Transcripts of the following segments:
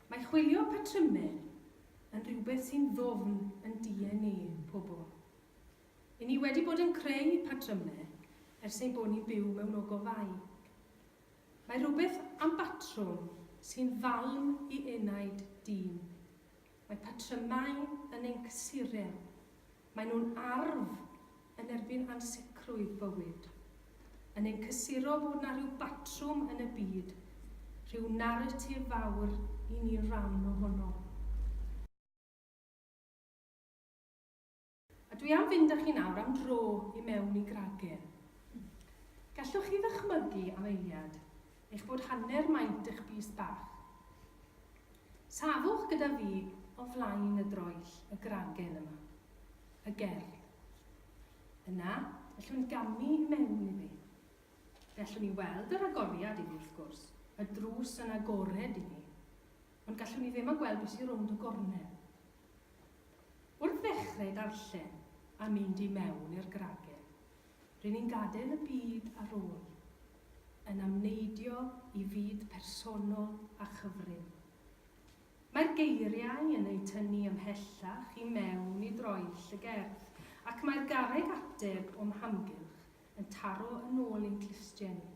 Mae chwilio patrymau yn rhywbeth sy'n ddwfn yn DNA pobl. I ni wedi bod yn creu patrymau ers ein bod ni'n byw mewn ogofau. Mae rhywbeth am batrwm sy'n falm i enaid dyn. Mae patrymau yn ein cysurel, maen nhw'n arf yn erbyn ansicrwydd bywyd. Yn ein cysuro bod 'na rhyw batrwm yn y byd, rhyw naratif fawr i ni'n ran ohono. A dwi am fynd â chi nawr am dro i mewn i gragur. Gallwch chi ddychmygu, am eiliad, eich bod hanner maint eich bys bach? Safwch gyda fi o flaen y droell, y gragen yma. Y gerdd. Yna, ellwn gamu i mewn iddi. Fe allwn ni weld yr agoriad iddi, wrth gwrs, y drws yn agored iddi, ond gallwn ni ddim agweld beth sydd rownd y gornel. Wrth ddechrau darllen a mynd i mewn i'r gragen, ry'n ni'n gadael y byd ar ôl, yn amneidio i fyd personol a chyfrin. Mae'r geiriau yn eu tynnu ymhellach i mewn i droell y gerdd, ac mae'r garreg ateb o'm hamgylch yn taro yn ôl i'n clustiau ni.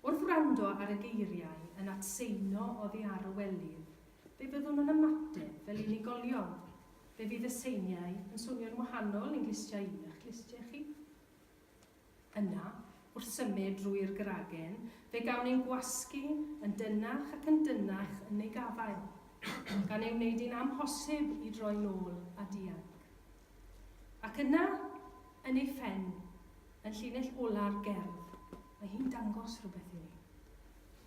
Wrth wrando ar y geiriau yn atseinio oddi ar y welydd, fe fyddwn yn ymateb fel unigolion. Fe fydd y seiniau yn swnio'n wahanol i'n clustiau i a'ch clustiau chi. Yna, wrth symud drwy'r gragen, fe gawn ein gwasgu yn dynnach ac yn dynnach yn ei gafael, gan ei wneud hi'n amhosib i droi'n ôl a dianc. Ac yna, yn ei phen, yn llinell ola'r gerdd, mae hi'n dangos rhywbeth i ni.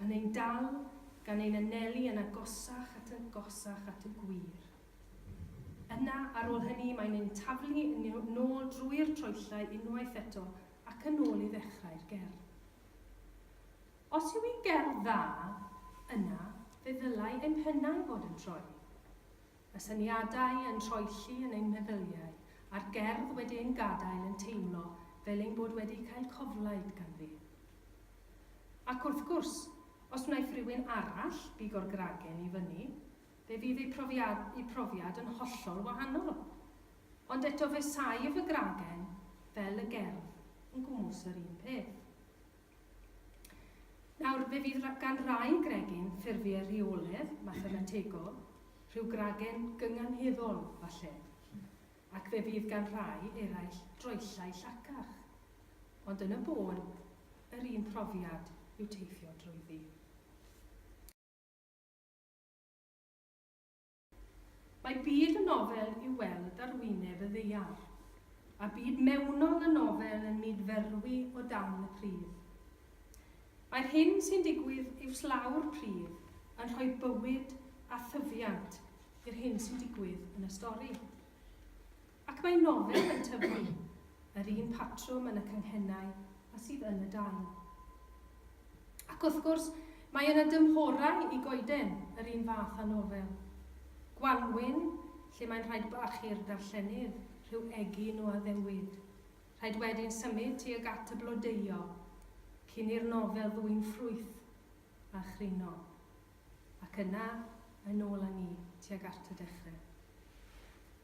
Yn ein dal, gan ein anelu yn agosach at agosach at y gwir. Yna, ar ôl hynny, mae'n ein taflu yn nôl drwy'r troellau unwaith eto ac yn ôl i ddechrau'r gerdd. Os yw hi'n gerdd dda, yna, fe ddylai ein pennau fod yn troi. Y syniadau yn troelli yn ein meddyliau, a'r gerdd wedi ein gadael yn teimlo fel ein bod wedi cael coflaid ganddi. Ac wrth gwrs, os wnaiff rywun arall bigo'r gragen i fyny, fe fydd eu profiad, eu profiad yn hollol wahanol. Ond eto fe saif y gragen, fel y gerdd, yn gwmws yr un peth. Nawr, fe fydd gan rai gregyn ffurfiau rheoledd, mathemategol, rhyw gragen gynganheddol, falle, ac fe fydd gan rai eraill droellau llacach. Ond yn y bôn, yr un profiad yw teithio drwyddi. Mae byd y nofel i'w weld ar wyneb y ddaear, a byd mewnol y nofel yn myd-ferwi o dan y pridd. Mae'r hyn sy'n digwydd uwchlaw'r pridd yn rhoi bywyd a thyfiant i'r hyn sy'n digwydd yn y stori. Ac mae nofel yn tyfu yr un patrwm yn y canghennau a sydd yn y dail. Ac wrth gwrs, mae yna dymhorau i goeden yr un fath â nofel. Gwanwyn, lle mae'n rhaid bach i'r darllenydd rhyw egin o addewid, rhaid wedyn symud tuag at y blodeuo, cyn i'r nofel ddwyn ffrwyth a chryno, ac yna yn ôl â ni tuag at y dechre.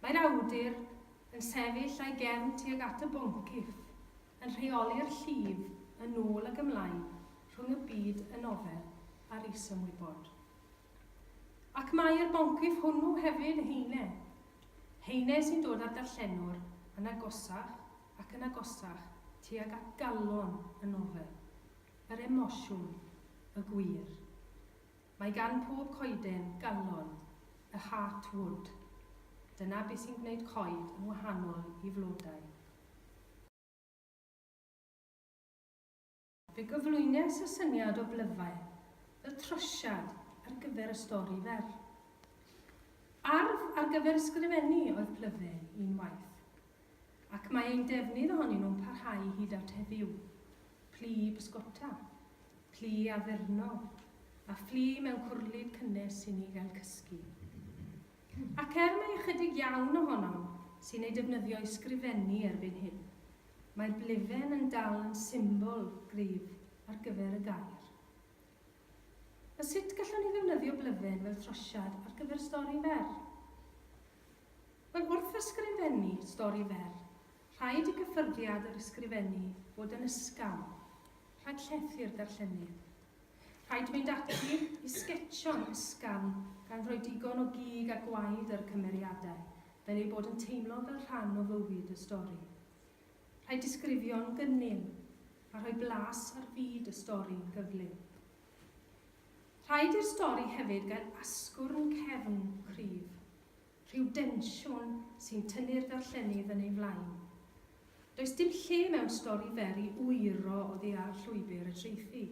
Mae'r awdur yn sefyll a'i gefn tuag at y boncyff, yn rheoli'r llif yn ôl ag ymlaen rhwng y byd y nofel a'r is-ymwybod. Ac mae'r boncyff hwnnw hefyd yn heine. Heine sy'n dod â'r darllenwr yn agosach ac yn agosach tuag at galon y nofel. yr emosiwn, y gwir. Mae gan pob coeden galon, a heart would. Dyna beth sy'n gwneud coed yn wahanol i flodau. Fe gyflwynes y syniad o blyfau, y trosiad, ar gyfer y stori fer. Arf ar gyfer ysgrifennu oedd plyfau, unwaith. ac mae ein defnydd ohonyn nhw'n parhau hyd at heddiw. Plu i bysgota, plu i addurno, a phlu mewn cwrlid cynnes i ni gael cysgu. Ac er mai ychydig iawn ohonom sy'n ei defnyddio i sgrifennu erbyn hyn, mae'r blefen yn dal yn symbol gryf ar gyfer y gair. A sut gallwn ni ddefnyddio blefen fel trosiad ar gyfer stori fer? Wel, wrth ysgrifennu stori fer, rhaid i gyffyrddiad yr ysgrifennu fod yn ysgafn, rhag llethu'r darllenydd. Rhaid mynd ati i sgetsio'n ysgafn gan roi digon o gig a gwaed ar y cymeriadau, fel eu bod yn teimlo fel rhan o fywyd y stori. Rhaid disgrifio'n gynnil, a rhoi blas ar fyd y stori'n gyflym. Rhaid i'r stori hefyd gael asgwrn cefn cryf, Rhyw densiwn sy'n tynnu'r darllenydd yn ei flaen. Does dim lle mewn stori fer i wyro oddi ar llwybr y traethu.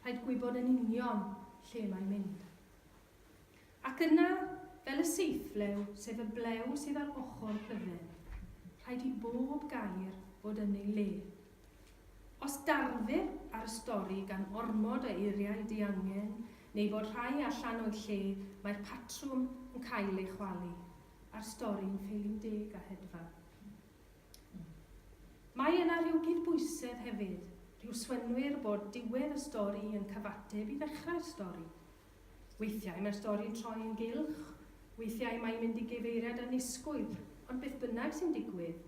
Rhaid gwybod yn union lle mae'n mynd. Ac yna, fel y seithflew, sef y blew sydd ar ochr bydden, rhaid i bob gair fod yn ei le. Os darfir ar y stori gan ormod o eiriau diangen neu fod rhai allan o'i lle, mae'r patrwm yn cael ei chwalu, a'r stori'n ffeili'n deg a hedfan. Mae yna rhyw gydbwysedd hefyd, rhyw swynwyr bod diwedd y stori yn cyfateb i ddechrau'r stori. Weithiau mae'r stori'n troi yn gylch, weithiau mae'n mynd i gyfeiriad annisgwyl, ond beth bynnag sy'n digwydd,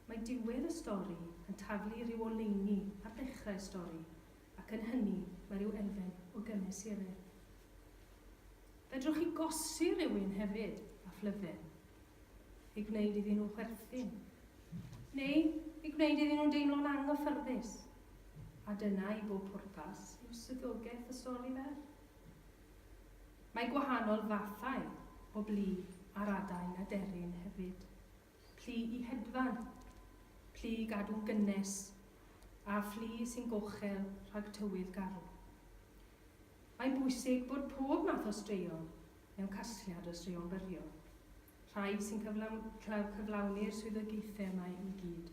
Mae diwedd y stori yn taflu rhyw oleuni ar ddechrau y stori, ac yn hynny mae rhyw elfen o gymesuredd. Fedrwch chi gosi rhywun hefyd â phlyfen, eu gwneud iddyn nhw chwerthin, neu eu gwneud iddyn nhw deimlo'n anghyffyrddus, a dyna i bob pwrpas yw swyddogaeth y stori fer. Mae gwahanol fathau o blu ar adain aderyn hefyd. Plu i hedfan, plu i gadw'n gynnes, a phlu sy'n gochel rhag tywydd garw. Mae'n bwysig bod pob math o straeon mewn casgliad o straeon byrion, rhai sy'n cyflawni'r swyddogaethau yma i gyd.